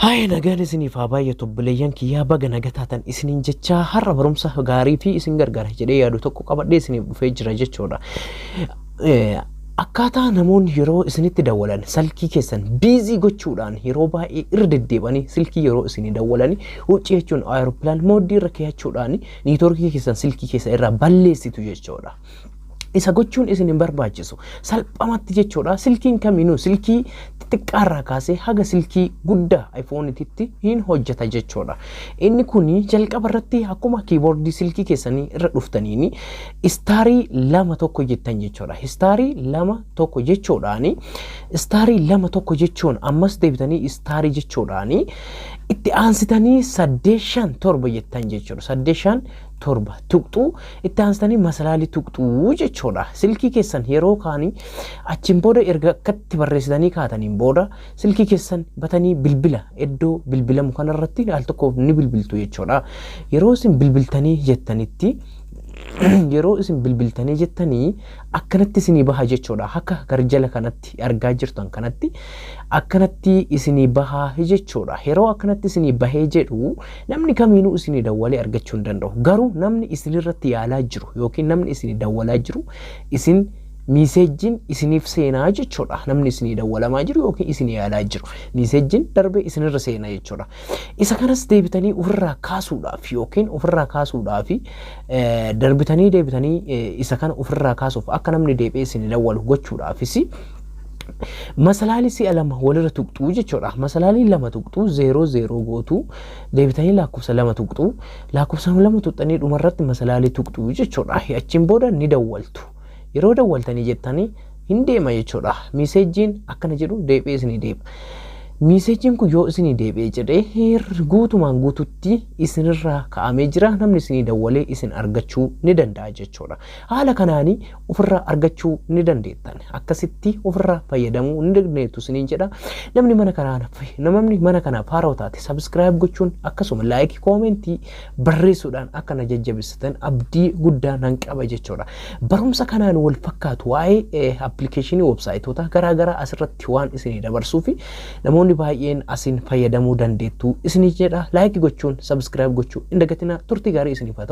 Haaya nagaan isiniif haa baay'atu obboleeyyan kiyyaa baga naga taatan isiniin jechaa har'a barumsa gaarii fi isin gargaara jedhee yaadu tokko qabadhee isiniif dhufee jira jechuudha. Eh, Akkaataa namoonni yeroo isinitti dawwalan salkii keessan biizii gochuudhaan yeroo baay'ee irra deddeebanii silkii yeroo isinii dawwalanii huccii jechuun aeroplaan mooddii irra keeyachuudhaan niitoorkii keessan silkii keessa irraa balleessitu jechuudha. isa gochuun isin hin barbaachisu salphamatti jechuudha silkiin kamiinuu silkii xixiqqaarraa kaasee haga silkii guddaa iPhone'titti hin hojjeta jechuudha inni kun jalqaba irratti akkuma kiiboordii silkii keessanii irra dhuftaniin istaarii lama tokko jettan jechuudha istaarii lama tokko jechuudhaani istaarii lama tokko jechuun ammas deebitanii istaarii jechuudhaani itti aansitanii saddeet shan torba jettan jechuudha saddeet shan torba tuqxu itti aansitanii masalaalii tuqxu jechuudha. Silkii keessan yeroo kaanii achiin booda erga akkatti barreessitanii kaataniin booda silkii keessan batanii bilbila iddoo bilbilamu kanarratti al tokkoof ni bilbiltu jechuudha. Yeroo isin bilbiltanii jettanitti yeroo isin bilbiltanii jettanii akkanatti isinii baha jechuudha. Akka garjala kanatti argaa jirtan kanatti akkanatti isinii baha jechuudha. Yeroo akkanatti isinii bahee jedhu Namni kamiinuu isinii dawwalee argachuu hin danda'u. Garuu namni isinirratti yaalaa jiru yookiin namni isinii dawwalaa jiru isin miiseejjiin isiniif seenaa jechuudha. Namni isinii dawwalamaa jiru yookiin isinii yaalaa jiru miiseejjiin darbee isinirra seena jechuudha. Isa kanas deebitanii ofirraa kaasuudhaaf yookiin ofirraa kaasuudhaaf darbitanii deebitanii isa kana ofirraa kaasuuf akka namni deebi'ee isinii dawwalu gochuudhaafis Masalaalii si'a lama walirra tuqxuu jechuudha. Masalaalii lama tuqxuu zeeroo zeeroo gootuu deebitanii lakkoofsa lama tuqxuu lakkoofsa lama tuqxanii dhumarratti masalaalii tuqxuu jechuudha. Achiin booda ni dawwaltu. Yeroo dawwaltanii jettanii hin deema jechuudha. Miiseejiin akkana jedhu deebi'ee isinii deema. Miiseejiin kun yoo isinii deebi'ee jedhee guutumaan guututti isinirraa ka'amee jira namni isinii dawwalee isin argachuu ni danda'a jechuudha. Haala kanaani ofirraa argachuu ni dandeettan. Akkasitti ofirraa fayyadamuu ni dandeettu isiniin jedha. Namni mana kanaan namni mana kanaaf haarawa taate subscribe gochuun akkasuma like koomentii barreessuudhaan akka na jajjabisitan abdii guddaa nan qaba jechuudha. Barumsa kanaan wal fakkaatu waa'ee appilikeeshinii websaayitoota garaagaraa asirratti waan isinii dabarsuu fi namoonni baay'een asiin fayyadamuu dandeettu isiniin jedha. Like gochuun subscribe gochuu hin dagatinaa turtii gaarii isiniif haa ta'u.